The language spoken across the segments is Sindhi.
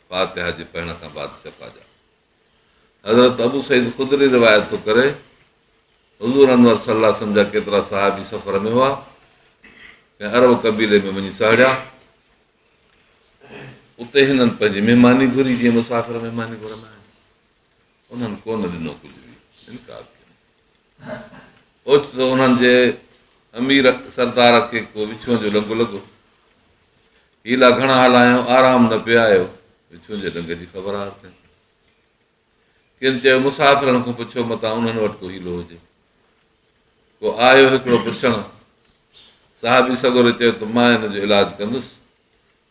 فاتحه جي پڙهڻ کان بعد شفا ڄاڻ. حضرت ابو سعيد خدري روايت ٿو ڪري، حضور انور صلي الله وسلم جا ڪيترا صحابي سفر ۾ هئا، ڪنهن عرب قبيلي ۾ وڃي سهڙيا، اتي هنن پنهنجي مهماني گهري جيئن مسافر مهماني گهرندا آهن، انهن ڪونه ڏنو ڪجهه به، انڪار ڪيو. اوچتو انهن جي امير سردار کي ڪو وڇون جو لنگهه لڳو. حيلا گهڻا هلايائون، آرام نه پئي آيو. وڇون جي لنگهه جي خبر آر ڪئي. ڪن چيو مسافرن کان پڇو متان انهن وٽ ڪو حيلو هجي. ڪو آيو هڪڙو پڇڻ. صحابي سڳوري چيو ته مان ان جو علاج ڪندس.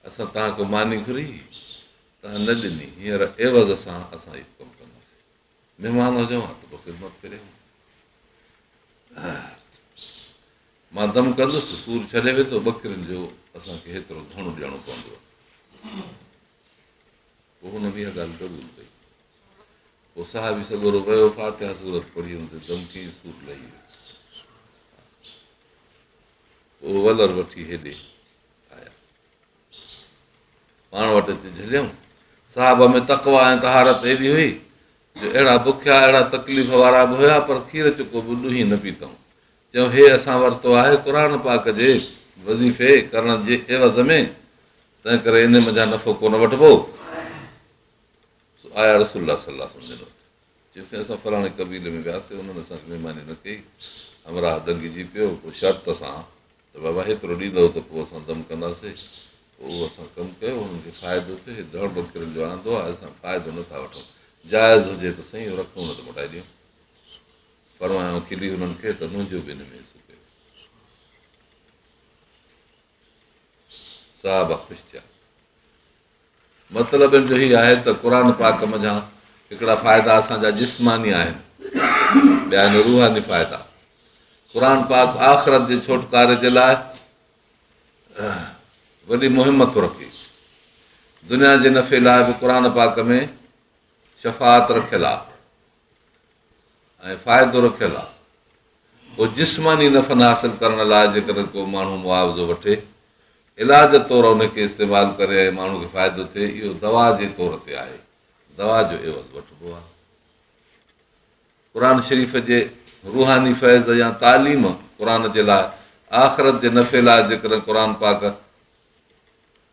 اسان توهان کان ماني گهري هئي، توهان نه ڏني، هينئر عيوض سان اسان اهو ڪم ڪنداسين. مھمان ھجئون ھا ته پوء خدمت ڪري ھا. مان دم ڪندس ته سور ڇڏي ويندو، ٻڪرين جو اسان کي ھيترو ڌڻ ڏيڻو پوندو. پوء ھن بھ اھا ڳالھھ قبول ڪئي. پوء صحابي سڳورو ويو، فاتحه سورت پڙھي ھن تي دم ڪيائين، سور لھي ويو. پوء ولر وٺي ھيڏي پاڻ وٽ اچي جهليائون. صحابه ۾ تقويٰ ۽ طهارت ايڏي هئي جو اهڙا بکيا، اهڙا تڪليف وارا به هيا، پر کير چڪو به ڏونهي نه پيتائون. چيائون، هي اسان ورتو آهي قرآن پاڪ جي وظيفي ڪرڻ جي عيوض ۾، تنهنڪري انهي منجهان نفعو ڪونه وٺبو. سو آيا رسول الله صلي الله عليه وسلم جن وٽ. چيسين اسان فلاڻي قبيلي ۾ وياسي انهن اسان جي مهماني نه ڪئي، همراهه دنگجي پيو پوء شرط سان ته بابا هيترو ڏيندؤ ته پوء اسان دم ڪنداسي پوء اهو اسان ڪم ڪيو انهن کي فائدو ٿيو هي ڌڻ بڪرين جو آندو آهي اسان فائدو نه ٿا وٺون جائز هجي ته سهي اهو رقم نه ته موٽائي ڏيون فرمايائون کلي انهن کي ته منهنجو به ان ۾ حصو ڪيو. صحابه خوش ٿيا. مطلب ان جو هي آهي ته قرآن پاڪ منجهان هڪڙا فائدا اسان جا جسماني آهن ٻيا آهن روحاني فائدا قرآن پاڪ آخرت جي ڇوٽڪاري جي لاء وڏي مهم ٿو رکي دنيا جي نفي لاء به قرآن پاڪ ۾ شفاعت رکيل آهي ۽ فائدو رکيل آهي پوء جسماني نفن حاصل ڪرڻ لاء جيڪڏهن ڪو ماڻهو معاوضو وٺي علاج طور ان کي استعمال ڪري ۽ ماڻهو کي فائدو ٿئي اهو دوا جي طور تي آهي دوا جو عيوض وٺبو آهي قرآن شريف جي روحاني فيض يا تعليم قرآن جي لاء آخرت جي نفي لاء جيڪڏهن قرآن پاڪ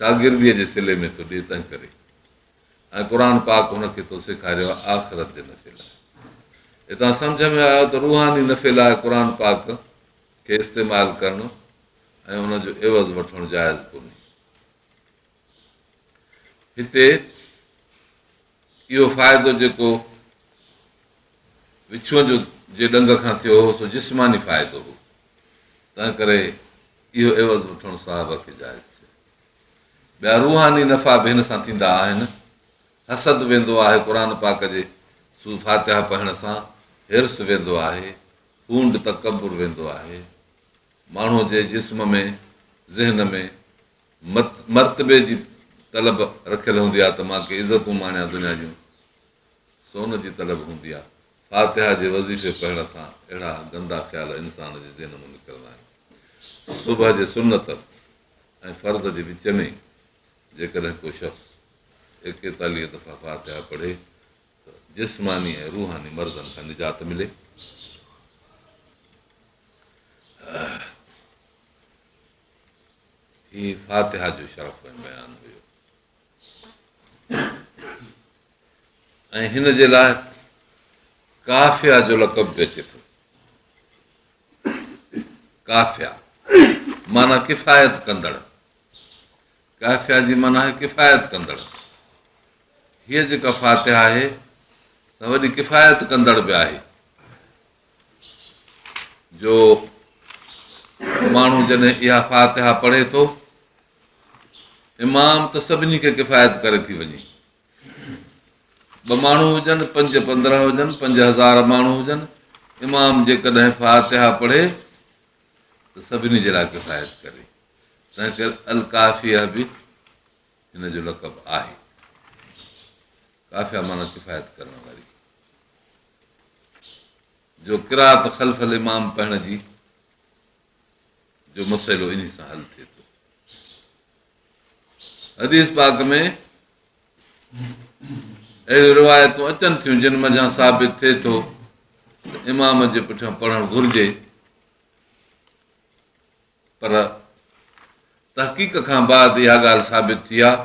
شاگرديء جي صلي ۾ ٿو ڏئي تنهنڪري ۽ قرآن پاڪ هن کي ٿو سيکاريو آهي آخرت جي نفعي لاء هتان سمجھ ۾ آيو ته روحاني نفعي لاء قرآن پاڪ کي استعمال ڪرڻ ۽ ان جو عوض وٺڻ جائز ڪونهي هتي اهو فائدو جيڪو وڇون جو جي ڏنگ کان ٿيو هو سو جسماني فائدو هو، تنهنڪري اهو عوض وٺڻ صحابه کي جائز ٿيو. ٻيا روحاني نفعا به هن سان ٿيندا آهن. حسد ويندو آهي قرآن پاڪ جي سو فاتحه پڙهڻ سان، حرص ويندو آهي، ڦونڊ تڪبر ويندو آهي، ماڻهوء جي جسم ۾، ذهن ۾، مرتبي جي طلب رکيل هوندي آ ته مان ڪي عزتون ماڻيان دنيا جون سو ان جي طلب هوندي آ فاتحه جي وظيفي پڙهڻ سان اهڙا گندا خيال انسان جي ذهن مان نڪرندا آهن صبح جي سنت ۽ فرض جي وچ ۾ جيڪڏهن ڪو شخص ايڪيتاليهه دفعا فاتحه پڙهي ته جسماني ۽ روحاني مرضن کان نجات ملي هي فاتحه جو شرف ۽ بيان هيو ۽ هن جي لاء ڪافيا جو لقب به اچي ٿو ڪافيا معنی ڪفايت ڪندڙ ڪافيا جي معنی آهي ڪفايت ڪندڙ هيء جيڪا فاتحه آهي سا وڏي ڪفايت ڪندڙ به آهي جو ماڻهو جڏهن اها فاتحه پڙهي ٿو امام ته سڀني کي ڪفايت ڪري ٿي وڃي ٻه ماڻهو هجن پنج پندرهن هجن پنج هزار ماڻهو هجن امام جيڪڏهن فاتحه پڙهي ته سڀني جي لاء ڪفايت ڪري تنهن ڪري القافيه به هن جو لقب آهي کافيا مانا کفايت ڪرڻ واري جو قرات خلف الامام پڙهڻ جي جو مسئلو انهي سان حل ٿئي ٿو حديث پاڪ ۾ اهڙيون روايتون اچن ٿيون جن منجھان ثابت ٿئي ٿو امام جي پٺيان پڙهڻ گهرجي پر تحقيق کان بعد اها ڳالهه ثابت ٿي آهي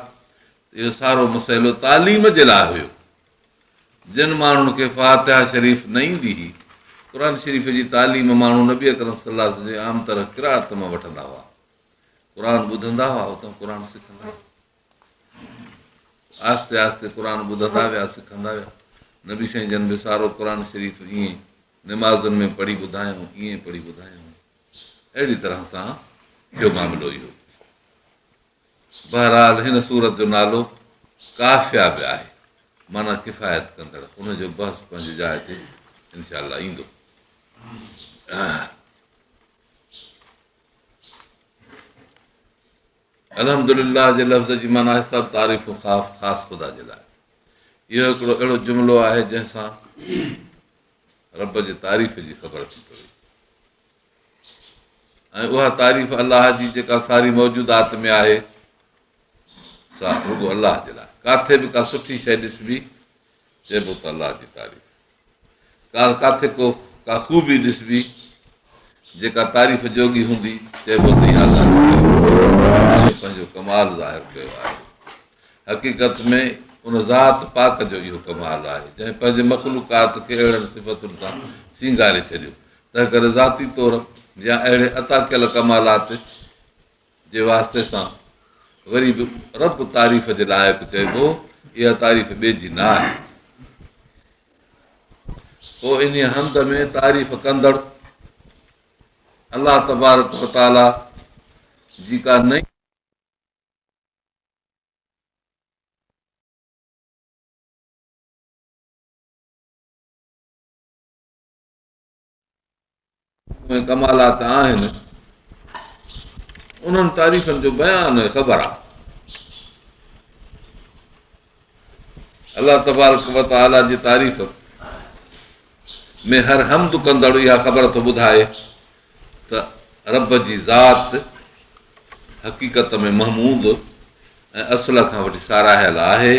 ته اهو سارو مسئلو تعليم جي لاء هيو. جن ماڻهن کي فاتحه شريف نه ايندي هئي، قرآن شريف جي تعليم ماڻهو نبي اڪرم صلي الله عليه وسلم جي عام طرح قرائت مان وٺندا هئا. قرآن ٻڌندا هئا، اتان قرآن سکندا هئا. آهستي آهستي قرآن ٻڌندا ويا، سکندا ويا. نبي سائين جن به سارو قرآن شريف ائين نمازن ۾ پڙهي ٻڌايائون، ائين پڙهي ٻڌايائون. اهڙي طرح سان ٿيو معاملو اهو. بهرحال هن سورت جو نالو ڪافيا به آهي معنيٰ ڪفايت ڪندڙ ان جو بحث پنهنجي جاء تي انشاء الله ايندو. الحمد لله جي لفظ جي معنيٰ آهي سڀ تعريف خاص خاص خدا جي لاء. اهو هڪڙو اهڙو جملو آهي جنهن سان رب جي تعريف جي خبر ٿي پوي ۽ اها تعريف الله جي جيڪا ساري موجودات ۾ آهي سا رڳو الله جي لاء ڪاٿي به ڪا سٺي شيء ڏسبي چئبو ته الله جي تعريف ڪاٿي کو ڪا خوبي ڏسبي جيڪا تعريف جوڳي هوندي چئبو ته پنهنجو ڪمال ظاهر ڪيو آهي حقيقت ۾ ان ذات پاڪ جو اهو ڪمال آهي، جنهن پنهنجي مخلوقات کي اهڙن صفتن سان سينگاري ڇڏيو، تنهنڪري ذاتي طور يا اهڙي عطا ڪيل ڪمالات جي واسطي سان وري به رب تعريف جي لائق چئبو، اها تعريف ٻئي جي نه آهي. پوء انهيء حمد ۾ تعريف ڪندڙ الله تبارڪ وتعاليٰ جي ڪا نئين. ۾ ڪمالات آهن انهن تعريفن جو بيان خبر آهي الله تبارڪ و تعالي جي تعريف ۾ هر حمد ڪندڙ اها خبر ٿو ٻڌائي ته رب جي ذات حقيقت ۾ محمود ۽ اصل کان وٺي ساراهيل آهي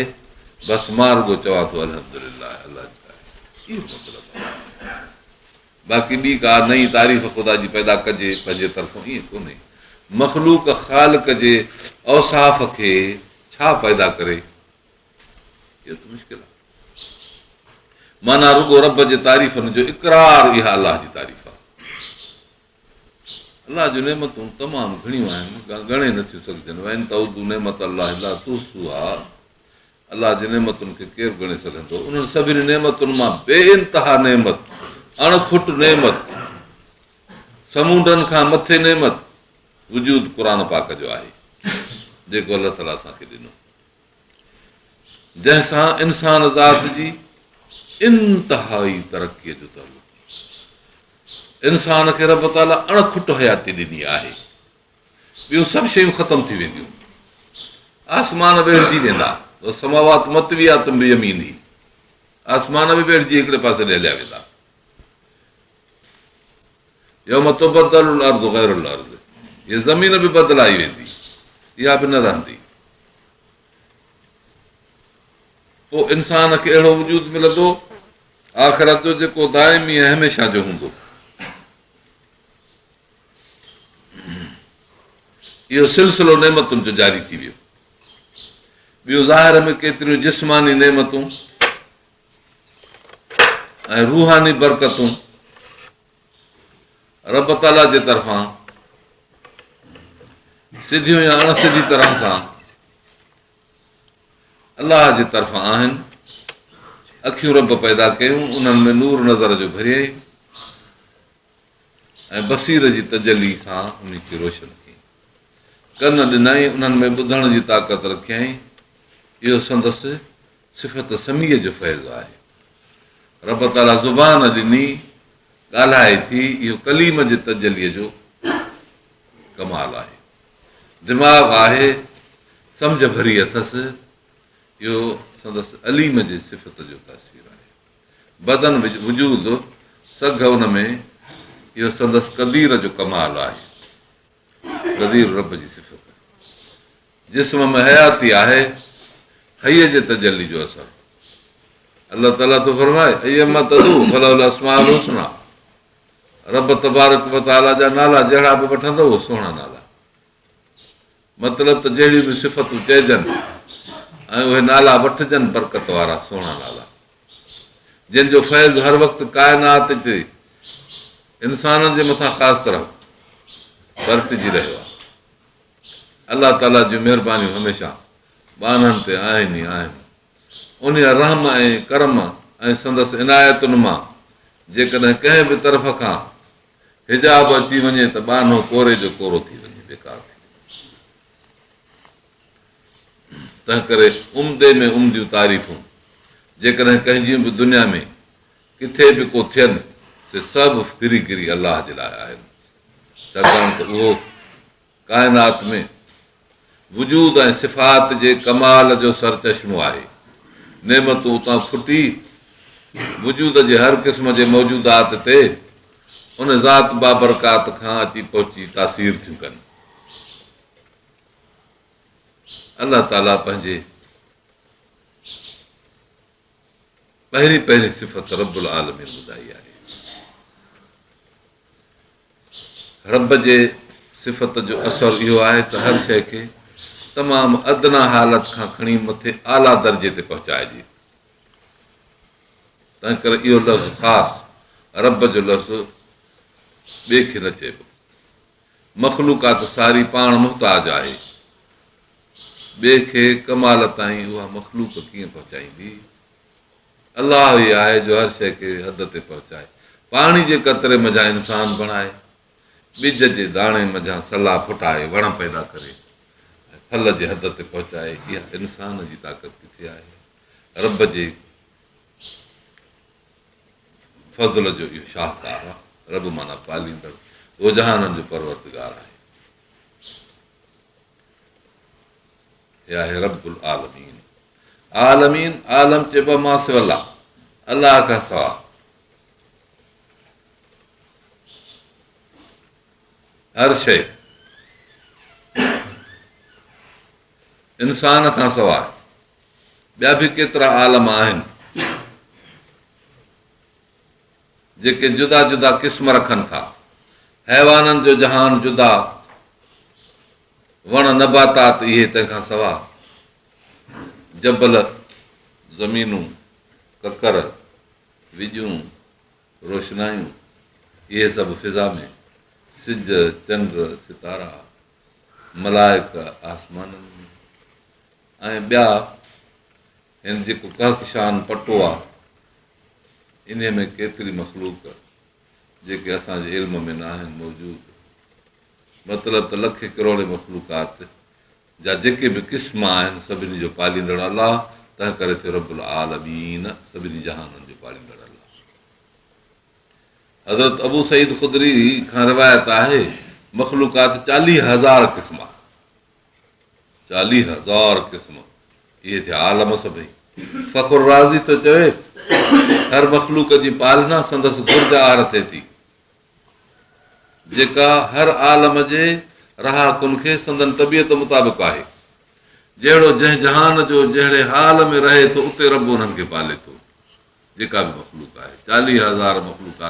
بس مان رڳو چوان ٿو الحمد لله الله جي تعريف مطلب باقي ٻي ڪا نئين تعريف خدا جي پيدا ڪجي پنهنجي طرفون ائين ڪونهي. مخلوق خالق جي اوصاف کي ڇا پيدا ڪري؟ اهو ته مشڪل آهي. معنيٰ رڳو رب جي تعريفن جو اقرار اها الله جي تعريف آهي. الله جون نعمتون تمام گهڻيون آهن، ڳڻي نٿيون سگهجن، وان تعدوا نعمت الله لا تحصوها الله جي نعمتن کي ڪير ڳڻي سگهندو؟ انهن سڀني نعمتن مان بي انتها نعمت، اڻ کٽ نعمت، سمونڊن کان مٿي نعمت، وجود قرآن پاڪ جو آهي، جيڪو الله تعاليٰ اسان کي ڏنو، جنهن سان انسان ذات جي انتهائي ترقيء جو تعلق آهي. انسان کي رب تعاليٰ اڻ کٽ حياتي ڏني آهي. ٻيون سڀ شيون ختم ٿي وينديون، آسمان ويڙهجي ويندا، والسماوات مطويات بيمينه، آسمان به ويڙهجي هڪڙي پاسي ڏي هليا ويندا. يوم تبدل الارض غير الارض هيء زمين به بدلائي ويندي، اها به نه رهندي. پوء انسان کي اهڙو وجود ملندو آخرت جو جيڪو دائمي ۽ هميشه جو هوندو. اهو سلسلو نعمتن جو جاري ٿي ويو. ٻيو ظاهر ۾ ڪيتريون جسماني نعمتون ۽ روحاني برڪتون رب تعاليٰ جي طرفان سڌيون يا اڻ سڌي طرح سان الله جي طرفان آهن اکيون رب پيدا ڪيون انهن ۾ نور نظر جو ڀريائين ۽ بصير جي تجلي سان انهي کي روشن ڪيائين. ڪن ڏنائين، انهن ۾ ٻڌڻ جي طاقت رکيائين، اهو سندس صفت سميع جو فيض آهي. رب تعاليٰ زبان ڏني، ڳالهائي ٿي، اهو ڪليم جي تجليء جو ڪمال آهي. دماغ آهي، سمجهه ڀري اٿس، اهو سندس عليم جي صفت جو تاثير آهي. بدن وجود سگهه ان ۾، اهو سندس قدير جو ڪمال آهي. قدير رب جي صفت. جسم ۾ حياتي آهي، حي جي تجلي جو اثر. الله تعالي ٿو فرمائي، ايما تدعو فله الاسماء الحسني. رب تبارڪ وتعالي جا نالا جهڙا به وٺندؤ سهڻا نالا. مطلب ته جهڙيون به صفتون چئجن ۽ اهي نالا وٺجن برڪت وارا سهڻا نالا جن جو فيض هر وقت ڪائنات جي انسانن جي مٿان خاص طرح برتجي رهيو آهي الله تعاليٰ جون مهربانيون هميشه ٻانهن تي آهن ئي آهن ان رحم ۽ ڪرم ۽ سندس عنايتن مان جيڪڏهن ڪنهن به طرف کان حجاب اچي وڃي ته ٻانهو ڪوري جو ڪورو ٿي وڃي بيڪار ٿي وڃي تنهن ڪري عمدي ۾ عمديون تعريفون جيڪڏهن ڪنهن جيون به دنيا ۾ ڪٿي به ڪو ٿين سي سڀ ڦري گري الله جي لاء آهن ڇاڪاڻ ته اهو ڪائنات ۾ وجود ۽ صفات جي ڪمال جو سرچشمو آهي. نعمتون اتان ڦٽي وجود جي هر قسم جي موجودات تي ان ذات بابرڪات کان اچي پهچي تاثير ٿيون ڪن. الله تعاليٰ پنهنجي. پهرين پهرين صفت رب العالمين ٻڌائي آهي. رب جي صفت جو اثر اهو آهي ته هر شيء کي تمام ادنا حالت کان کڻي مٿي اعليٰ درجي تي پهچائجي. تنهن ڪري اهو لفظ خاص رب جو لفظ ٻئي کي نه چئبو. مخلوقات ساري پاڻ محتاج آهي، ٻئي کي ڪمال تائين اها مخلوق ڪيئن پهچائيندي؟ الله ئي آهي جو هر شيء کي حد تي پهچائي. پاڻي جي قطري منجهان انسان بڻائي، ٻج جي داڻي منجهان سلا ڦٽائي وڻ پيدا ڪري ۽ ڦل جي حد تي پهچائي، اها انسان جي طاقت ڪٿي آهي؟ رب جي. فضل جو اهو شاهڪار آهي. رب معنيٰ پاليندڙ، دوجهانن جو پروردگار آهي. هي آهي رب العالمين. عالمين، عالم چئبو آهي ماسوي الله، الله کان سواء. هر شيء انسان کان سواء ٻيا به ڪيترا عالم آهن جيڪي جدا جدا قسم رکن ٿا. حيوانن جو جهان جدا، وڻ نباتات اهي تنهن کان سواء جبل، زمينون، ڪڪر، وڄون، روشنايون اهي سڀ فضا ۾، سج، چنڊ، ستارا. ملائڪه آسمانن ۾، ۽ ٻيا هن جيڪو ڪهڪشان پٽو آ، انهي ۾ ڪيتري مخلوق جيڪي اسان جي علم ۾ ناهن موجود، مطلب ته لکين ڪروڙين مخلوقات جا جيڪي به قسم آهن سڀني جو پاليندڙ الله تنهنڪري ٿيو رب العالمين سڀني جهانن جو پاليندڙ الله. حضرت ابو سعيد خدري کان روايت آهي، مخلوقات چاليهه هزار قسم آهي، چاليهه هزار قسم، اهي ٿيا عالم سڀئي. فخر رازي ٿو چوي، هر مخلوق جي پالنا سندس گرج آهر ٿئي ٿي، جيڪا هر عالم جي رهاڪن کي سندن طبيعت مطابق آهي. جهڙو جنهن جهان جو جهڙي حال ۾ رهي ٿو اتي رب انهن کي پالي ٿو جيڪا به مخلوق آهي چاليهه هزار مخلوقات